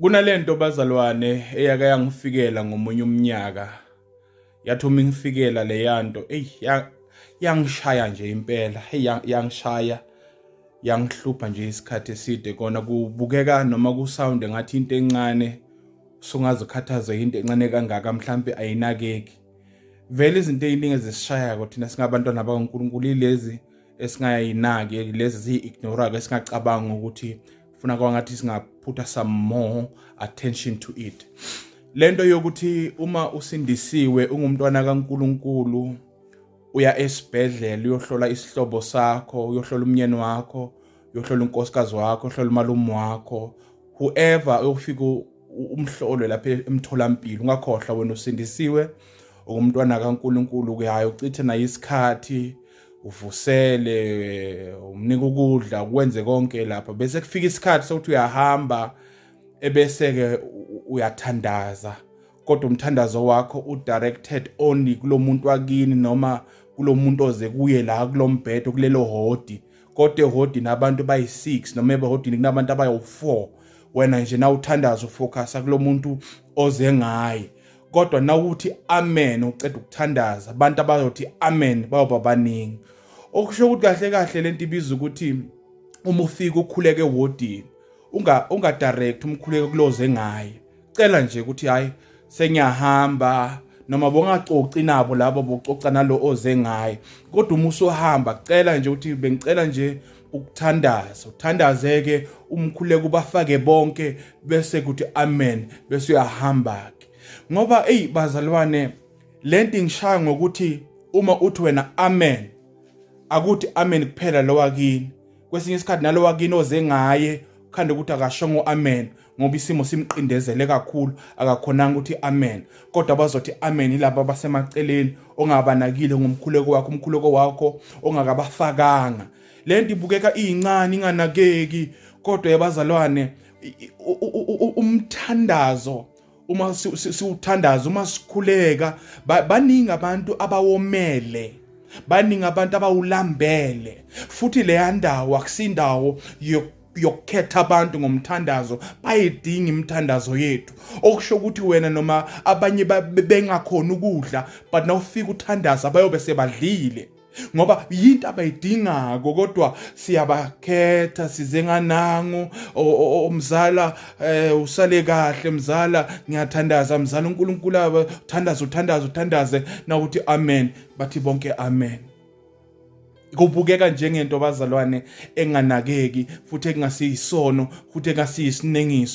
Kunalento bazalwane eyake yangifikela ngomunye umnyaka yathi uma ingifikela leyanto eyi yangishaya nje impela hey yangishaya yangihlupha nje isikhathi eside kona kubukeka noma kusound ngathi into encane sungazikhathaza into encane kangaka mhlambe ayinakeki vele izinto eziningi ezisishayako thina singabantwana bakaNkuluNkulu ilezi esingayinaki lezi ziyi-ignora-ke esingacabanga ukuthi funa kwangathi singaphutha some more attention to it le nto yokuthi uma usindisiwe ungumntwana kaNkulunkulu uya esibhedlela uyohlola isihlobo sakho uyohlola umnyeni wakho uyohlola unkosikazi wakho uyohlola umalume wakho whoever uyofika umhlolo lapha emtholampilo ungakhohlwa wena usindisiwe ungumntwana kaNkulunkulu kuyaye uchithe naye isikhathi uvusele umnika ukudla kwenze konke lapha bese kufika isikhathi sokuthi uyahamba ebese-ke uyathandaza kodwa umthandazo wakho udirected only kulo muntu wakini noma kulo muntu oze kuye la kulo mbhedo kulelo hodi kodwa ehodini abantu bayi-six noma ebahodini kunabantu abawu-four wena nje na uthandaza ufocusa kulo muntu oze ngaye kodwa nawuthi amen uceda ukuthandaza abantu abayothi amen bayoba baningi okusho ukuthi kahle kahle lento ibiza ukuthi uma ufika ukhuleke wodini unga unga direct umkhuleke kuloze ngaye cela nje ukuthi hayi sengiyahamba noma bongacoci nabo labo bococa nalo oze ngaye kodwa uma usuhamba cela nje ukuthi bengicela nje ukuthandaza uthandaze ke umkhuleko bafake bonke bese kuthi amen bese uyahamba ke ngoba ey bazalwane lento ngishaya ngokuthi uma uthi wena amen akuthi amen kuphela lowakini kwesinye isikhathi nalowakini oze ngaye khanda ukuthi akashongo amen ngoba isimo simqindezele kakhulu akakhonanga ukuthi amen kodwa bazothi amen yilabo abasemaceleni ongabanakile ngomkhuleko wakho umkhuleko wakho ongakabafakanga le nto ibukeka iyincane inganakeki kodwa yabazalwane umthandazo uma siwuthandaza uma sikhuleka baningi abantu abawomele baningi abantu abawulambele futhi leya ndawo akusindawo yokukhetha abantu ngomthandazo bayidinga imithandazo yethu okusho ukuthi wena noma abanye bengakhona ukudla but nawufika uthandaza bayobe sebadlile ngoba yinto abayidingako kodwa siyabakhetha size nganangu umzala eh, usale kahle mzala ngiyathandaza mzala uNkulunkulu uthandaza uthandaza uthandaze nawuthi amen bathi bonke amen kubukeka njengento bazalwane enganakeki futhi ekungasiyisono futhi ekungasiyisinengiso